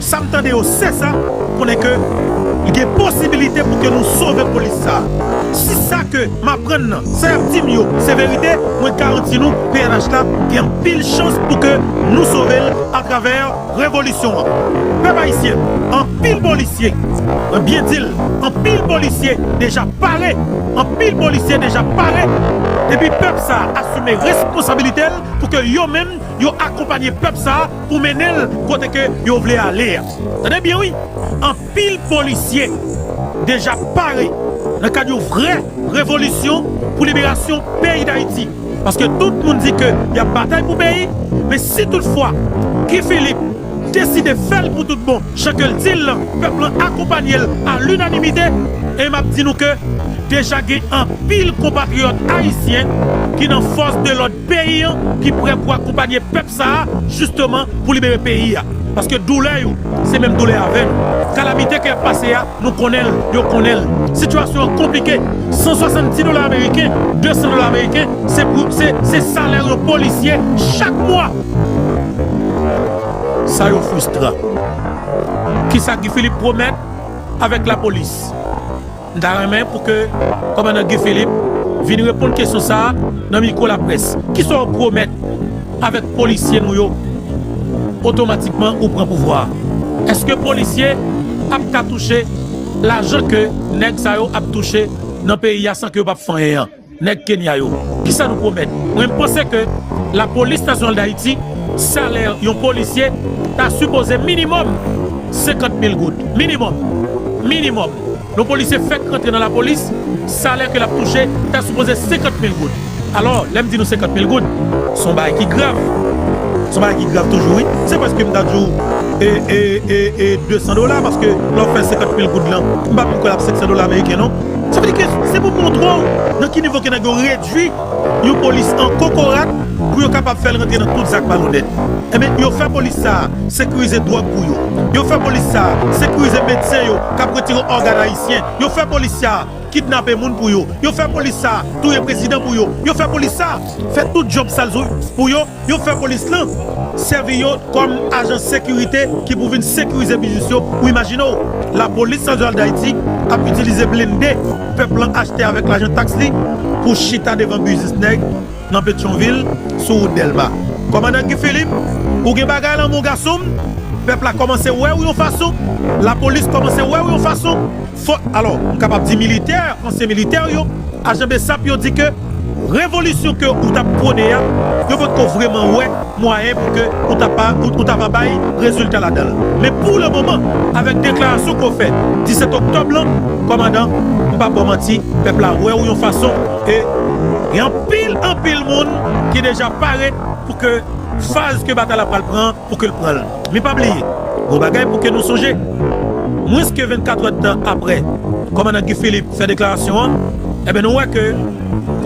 Sam tande yo sesa konnen ke li gen posibilite pou ke nou sove polis sa. Si sa ke m aprann nan, sa yap dim yo se verite, mwen garanti nou pnh la gen anpil chans pou ke nou sove l atravè revolisyon an. Pèp ayisyen, anpil polisye, mwen byen di l, anpil polisye deja pare, anpil polisye deja pare epi pèp sa asime responsabilite l pou ke yo menm yo akonpanye pèp sa pou mennen l kote ke yo vle ale a. Tande byen wi, anpil polisye deja pare nan kad yon vrè revolisyon pou liberasyon peyi Dayiti. Paske tout moun di ke y ap batay pou peyi, men si tout fwa Guy Philippe deside fè l pou tout bon jan ke l di l lan, pèp lan akonpanye l a linanimite, e m ap di nou ke deja gen anpil konpatriyòt ayisyen ki nan fòs de lòd, peyi an ki prè pou akonpanye pèp sa a jisteman pou libere peyi a paske doulè yo se menm doulè avè nou kalamite ke yap pase a nou konnen l yo konnen l sitiyasyon an konplike 170 dola ameriken 200 dola ameriken se pou se se salè yon polisye chak mwa sa yo fristran kisa Guy Philippe pwomèt avèk lapolis. M ta renmen pou ke Kòmandan Guy Philippe vin reponn kesyon sa a nan mikwo laprès. Kisa w pwomèt avèk polisye nou yo otomatikman ou pran pouvwa a? Eske polisye ap ka touche lajan ke nèg sa yo ap touche nan peyi a san ke yo p ap fè anyen an? Nèg Kenya yo kisa nou pwomèt. Mwen m panse ke la police nationale d'Haiti salè yon polisye ta sipoze minimum 50 mil goud minimum minimum yon polisye fèk rantre nan la police salè ke lap touche ta sipoze 50 mil goud alò lèm di nou 50 mil goud son bagay ki grav son bagay ki grav toujou wi se preske m ta di w e e e 200 dola paske lè w fè 50 mil goud lan m pa menm kwè lap 500 dola ameriken non. Sa vle di ke se pou montre w nan ki nivo ke nèg yo redui yon polis an kokorat pou yo kapab fè l rantre nan tout zak malonèt. Enben, yo fè polis sa a sekirize dwòg pou yo. Yo fè polis sa a sekirize medsen yo k ap retire ògàn ayisyen. Yo fè polis sa a kidnape moun pou yo. Yo fè polis sa a touye prezidan pou yo. Yo fè polis sa a fè tout djòb sal pou yo. Yo fè polis lan sèvi yo kòm ajan sekirite ki pou vin sekirize biznis yo ou imajine w lapolis nasyonal dayiti ap itilize blende pèp lan achte avèk lajan taks li pou chita devan biznis nèg nan petyonvil sou wout dèlma kòmandan guy philippe ou gen bagay lan mon gason m pèp la kòmanse wè w yon fason lapolis kòmanse wè w yon fason. Fò, alò, m kapab di militè, ansyen militè yo, ajan bsap yo di ke revolisyon ke ou t ap pwone a, yo pa t ko vreman wè mwayen pou ke ou ta pa, ou ta pa bay rezilta ladan l. Men pou le moman, avèk deklarasyon ke w fè 17 oktòb lan, kòmandan, m pa ba w manti, pèp la wè w yon fason e gen anpil, anpil moun ki deja pare pou ke faz ke batay la pral pran an, pou ke l pran l. Men pa bliye yon bagay pou ke nou sonje, mwens ke 24 èdtan apre kòmandan Guy Philippe fè deklarasyon an, enben nou wè ke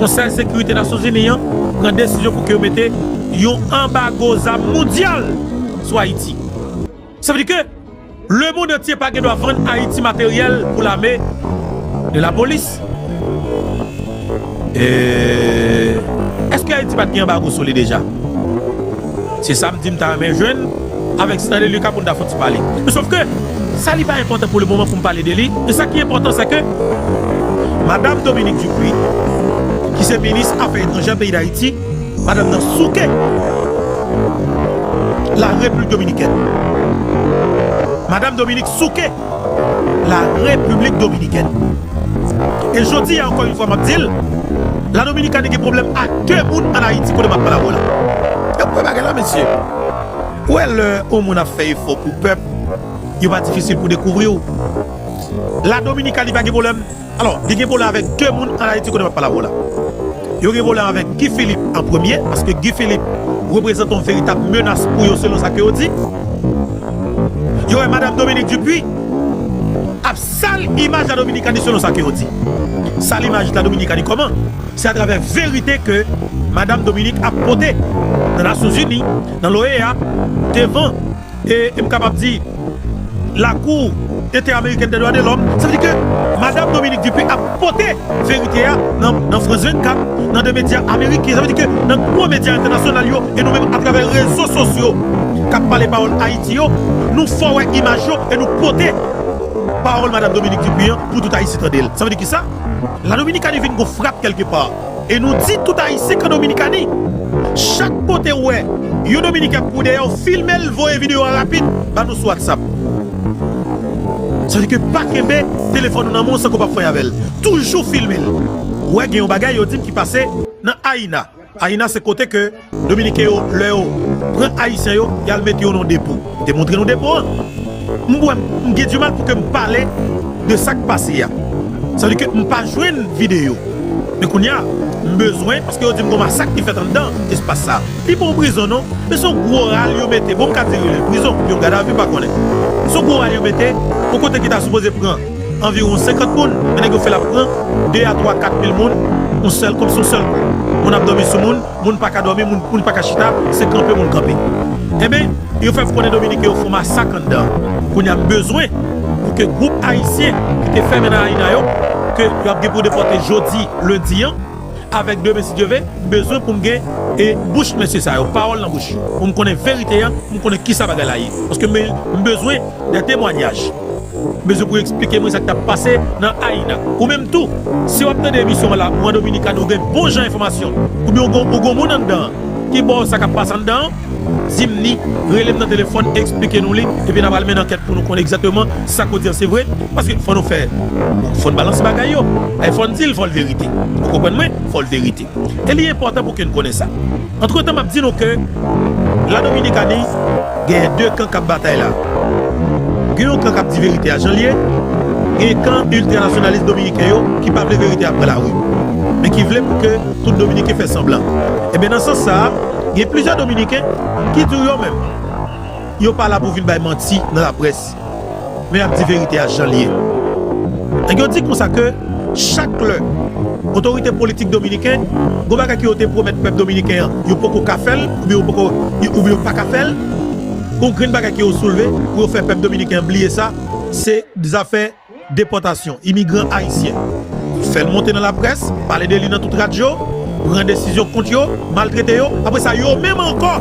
Konsèy Sekirite Nasyonzini an pran desizyon pou ke yo mete yon anbago zam mondyal sou Ayiti. Sa vle di ke. Le mond antye pa gen dwa vann Ayiti materyèl pou lame e lapolis. Eehh eske Ayiti pat gen anbago sou li deja? Se sa m di m ta renmen jwenn avèk Stanley Lucas pou n ta fon ti pale. Men sof ke sa li pa enpòtan pou le moman pou m pale de li. Men sa ki enpòtan se ke Madam Dominique Dupuy ki se minis afè etranjè peyi Dayiti Madanm nan souke La Replik Dominikèn Madam Dominique souke La Repiblik Dominikèn E jodi a ankò yon fwa map dil La Dominikani gen pwoblèm ak 2 moun an Ayiti kote map pale avèw la Epi wè bagay la mesye Ou wè lè yon moun ap fè efò pou pèp yo pa difisil pou dekouvriw La Dominikani pa gen pwoblèm. Alò, li gen pwoblèm avèk 2 moun an Ayiti kote m ap pale avè w la. Yo gen pwoblèm avèk Guy Philippe an premye, paske Guy Philippe reprezante yon veritab menas pou yo selon sa ke yo di. Yo wè Madam Dominique Dupuy ap sal imaj La Dominikani selon sa ke yo di. Sal imaj La Dominikani kòman? Se atravè verite ke Madam Dominique ap pote nan Nasyonzini, nan l'OEA, devan E m kapab di, Lakou Entè-Amerikèn dè Dwa de Lòm, sa vle di ke Madam Dominique Dupuy ap pote verite a nan France 24, nan 2 medya ameriken, sa vle di ke nan gwo medya entènasyonal yo, e nou menm atravè rezo sosyo k ap pale pawòl Ayiti yo, nou fè wè imaj yo e nou pote pawòl Madam Dominique Dupuy an pou tout Ayisyen tande l. Sa vle di kisa? La Dominikani vin gwo frap kèlke pa. E nou di tout ayisyen kan dominikani. Chak kotew wè yon dominiken ap kouri dèyèw filmel voye video a rapid ba nou sou whatsapp. Sa vle di ke pa kenbe telefòn ou nan men w san ke w pa fwenk avèl. Toujou filmel. Ou wè gen yon bagay yo dim ki pase nan Aïna. Aïna se kote ke. Dominiken yo lè yo pran ayisyen yo yal mete yo nan depo te montre nou depo an m wè m gen dimal pou ke m pale de sak pase a sa vle di ke m pa jwenn video men kounya m bezwen paske yo di m gon masak ki fèt anndan espas sa li pa yon prizon non men son gwo ral yo mete bon m ka di rele l prizon oubyen yon gadavi m pa konnen son gwo ral yo mete yon kote ki ta sipoze pran anviwon 50 moun men nèg yo fè l ap pran 2 a 3 4 mil moun yon sèl kòm si yon sèl kou moun ap dòmi sou moun. moun pa ka dòmi, moun pa ka chita, se kanpe moun kanpe. Enben, yo fè konnen Dominiken yo fè yon masak anndan an. Kounye a, m bezwen pou ke gwoup Ayisyen ki te fèmen nan Aina yo, ke yo ap gen pou depòte jodi, lendi an, avèk demen si Dye ve, m bezwen pou m gen bouch mesye sa yo, pawòl nan bouch yo, pou m konnen verite a, pou m konnen kisa bagay la ye. Paske m bezwen. Dè temwanyaj. Bezwen pou esplike mwen sak tap pase nan Haina. Ou menm tou si wap tande emisyon an la ou an Dominikani ou gen bon jan enfòmasyon oubyen ou gon ou gon moun anndan an ki baw sa kap pase anndan an dim ni rele m nan telefòn esplike nou li epi nap al mennen ankèt pou nou konn egzateman sak ou di an se vre paske fò nou fè fòn balanse bagay yo fòn dil fòl verite ou konprann mwen fòl verite. e li enpòtan pou ke n konnen sa. Antretan m ap di nou ke La Dominikani genyen 2 kan k ap batay la. Gen yon kan k ap di verite a jan l ye, genyen kan iltranasyonalist dominiken yo ki pa vle verite a pran lari, men ki vle pou ke tout dominiken fè sanblan. Enben nan sans sa a, gen plizyè dominiken ki di w yo menm, yo pa la pou vin bay manti nan laprès. Men yap di verite a janl ye. Nèg yo di konsa ke chak lè otorite politik dominiken gon bagay ke yo te pwomèt pèp dominiken an yo poko ka fèl oubyen yo poko oubyen yo paka fèl gon grenn bagay ke yo soulve pou yo fè pèp dominiken an bliye sa se zafè Depòtasyon imigran ayisyen, fè l monte nan laprès, pale de li nan tout radyo, pran desizyon kont yo, maltrete yo, apre sa yo menm ankò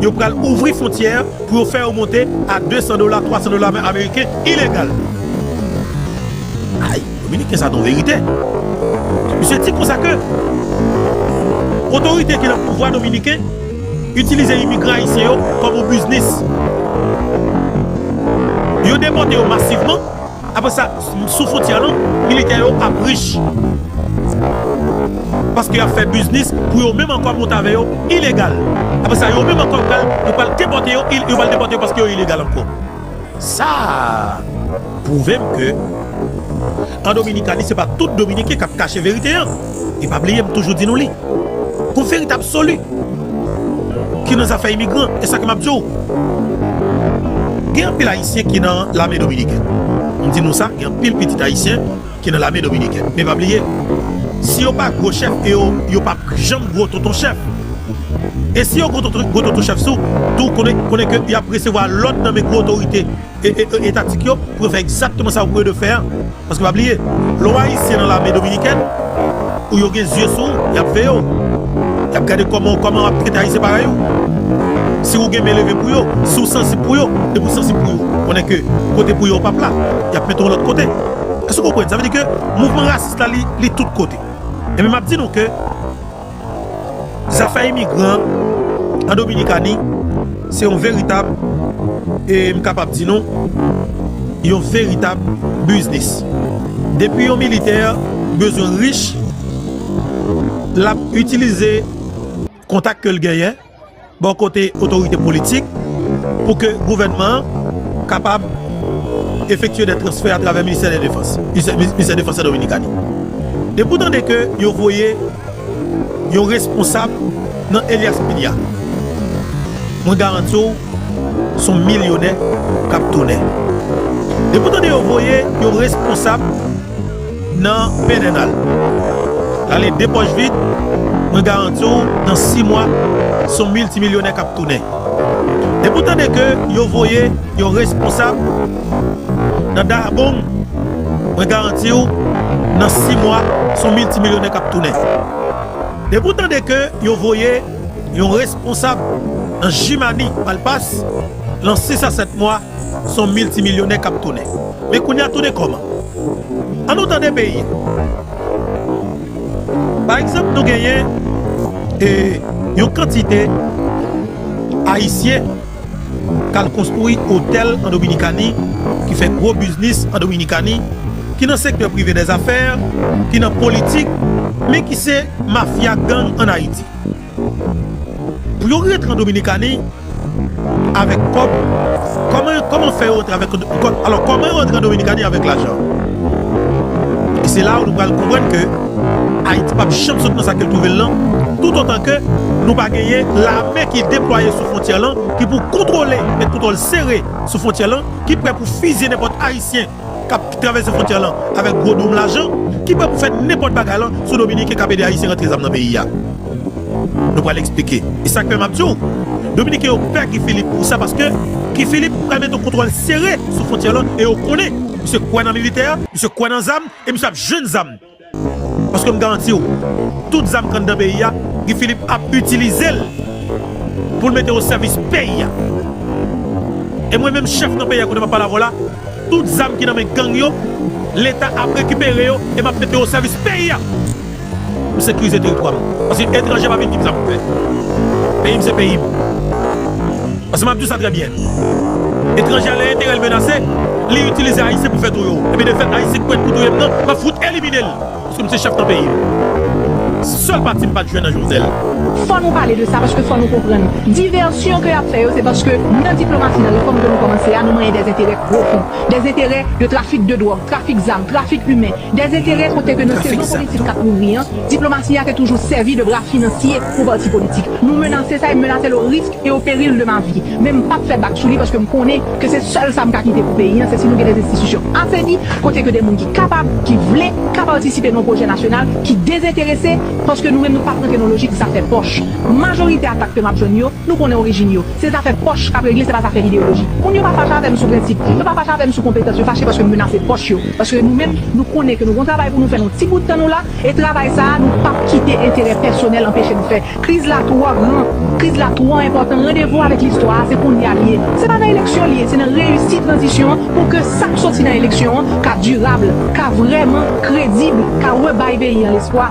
yo pral ouvri fontyè pou yo fè yo monte a 200 dola, 300 dola ameriken ilegal. Ayy dominiken sa ton verite. Misye di konsa ke otorite ki nan pouvwa dominiken. Itilize imigran ayisyen yo kòm yon biznis. Yo depòte yo masivman, apre sa sou fontyè lan militè yo ap rich. Paske yap fè biznis pou yo menm ankò mont avè yo ilegal. Apre sa yo menm ankò yo pral depòte yo, yo pral depòte yo paske yo ilegal ankò. Sa pwouve m ke an Dominikani se pa tout Dominiken k ap kache verite an. E pa bliye m toujou di nou li pou verite absoli ki nan zafè imigran. E sa ke m ap di w, gen anpil Ayisyen ki nan lame Dominikèn. M di nou sa, gen anpil pitit Ayisyen. ki nan lame dominikèn. Men pa bliye, si yo pa gwo chèf e yo, yo p ap janm gwo tonton chèf. E si yo gwo tonton, gwo tonton chèf sou, tou, konnen, konnen ke y ap resevwa lòd nan men gwo otorite e, e, e, etatik yo pou yo fè egzakteman sa yo pou yo dwe fè an. Paske pa bliye, lè w Ayisyen nan lame dominikèn, ou yo gen zye sou ou, y ap veye w. Y ap gade kòman, kòman w ap trete Ayisyen parèy ou. Si ou gen men leve pou yo, si ou sansib pou yo, depi ou sansib pou yo, konnen ke kote pou yo ou p ap la. Y ap mete w lòt kote. Èske ou konprann? Sa vle di ke mouvman rasis la li tout kote. Enben m ap di nou ke zafè imigran an Dominikani se yon veritab e m kapab di nou yon veritab biznis. Depi yon militè bezwen rich l ap itilize kontak ke l genyen. Bò kote otorite politik pou ke gouvènman an kapab efektye dè transfè atravè ministè dè defans, ministè defans an Dominikani. Depi w tande ke yo voye yon responsab nan Elias Piña, mwen garanti w s on milyonè k ap tounen. Depi w tande yo voye yon responsab. nan pedènal. Rale 2 pòch vid, mwen garanti w nan 6 mwa se yon miltimilyonè k ap tounen. Depi w tande ke yo voye yon responsab nan Dahbong, mwen garanti w nan 6 mwa se yon miltimilyonè k ap tounen. Depi w tande ke yo voye yon responsab nan Jimani, Malpas, lan 6 a 7 mwa son milti milyonè kap tounen men kounye a tounen kòman? An nou tande peyi a. Pa egzanp nou genyen yon kantite ayisyen kal konstwi otèl an dominikani ki fè gwo biznis an dominikani ki nan sektè prive dèzafè ki nan politik men ki se mafya gang an ayiti. Pou yo rantre an Dominikani avèk kòb, kòman fè yo rantre an Dominikani avèk lajan? E se la nou pral konprann ke Ayiti p ap janm sot nan sa ke l twouve l lan toutotan ke nou pa genyen lame ki deplwaye sou fwontyè lan ki pou kontwole, met kontwòl sere sou fwontyè lan, ki prè pou fizye nenpòt Ayisyen k ap travèse fwontyè lan avèk gwo doum lajan ki prè pou fè nenpòt bagay lan sou dominiken k ap ede ayisyen rantre zam nan peyi a nou pral eksplike e sa k fè m ap di w dominiken yo pè Guy Philippe pou sa paske Guy Philippe pral mete yon kontwòl sere sou fwontyè lan e yo konnen misye kwè nan militè misye kwè nan zam e misye ap jwenn zam. Paske m garanti w, tout zam k anndan peyi a, Guy Philippe ap itilize l pou l mete osèvis peyi a. E mwen menm chèf nan peyi a kote m ap pale avè w la, tout zam ki nan men gang yo, Leta ap rekipere yo e m ap mete yo osèvis peyi a pou m sekirize teritwa m. Paske etranje pa vin di m sa pou m fè. Peyi m se peyi m. Paske m ap di w sa trè byen. Etranje a lè enterè l menase, li itilize Ayisyen pou fè tou yo. Enben de fèt Ayisyen k prèt pou touye m nan, m ap fout elimine l. Paske m se chèf nan peyi m. Se sèl pati m pa t jwenn nan Jovenel. Fò nou pale de sa paske fò nou konprann divèsyon ke y ap fè yo se paske nan diplomasi nan refòm ke nou kòmanse a nou manyen dèzenterè pwofon. Dèzenterè de trafik de dwòg, trafik zam, trafik imen. Dèzenterè kote ke nan sezon politik k ap louvri an, diplomasi a te toujou sèvi de bra finansye pou pati politik. Nou menase sa e m menase l o risk. e au péril de ma vie men m pap fè bak sou li paske m konnen ke se sèl sa m ka kite pou peyi an se si nou gen des institutions aseni kote ke de moun ki kapab, ki vle, ka patisipe nan yon pwojè nasyonal ki dezenterese paske nou menm nou pap rantre nan lojik zafè pòch majorite atak ke map jwenn yo nou konnen orijin yo se zafè pòch kap regle se pa zafè ideyoloji moun yo pa fache avè m sou prensip yo pa fache avè m sou konpetans yo fache paske m menase pòch yo paske nou menm nou konnen ke nou gon travay pou nou fè nan ti bout tan nou la e travay sa a nou pap kite enterè pèsonèl anpeche nou fè Kriz la twò gran, kriz la twò enpòtan, randevou avèk listwa a se kounye a li ye. Se pa nan eleksyon li ye, se nan reyisi tranzisyon an pou ke sa k soti nan eleksyon an ka dirab, ka vrèman kredib, ka rebay peyi an lespwa.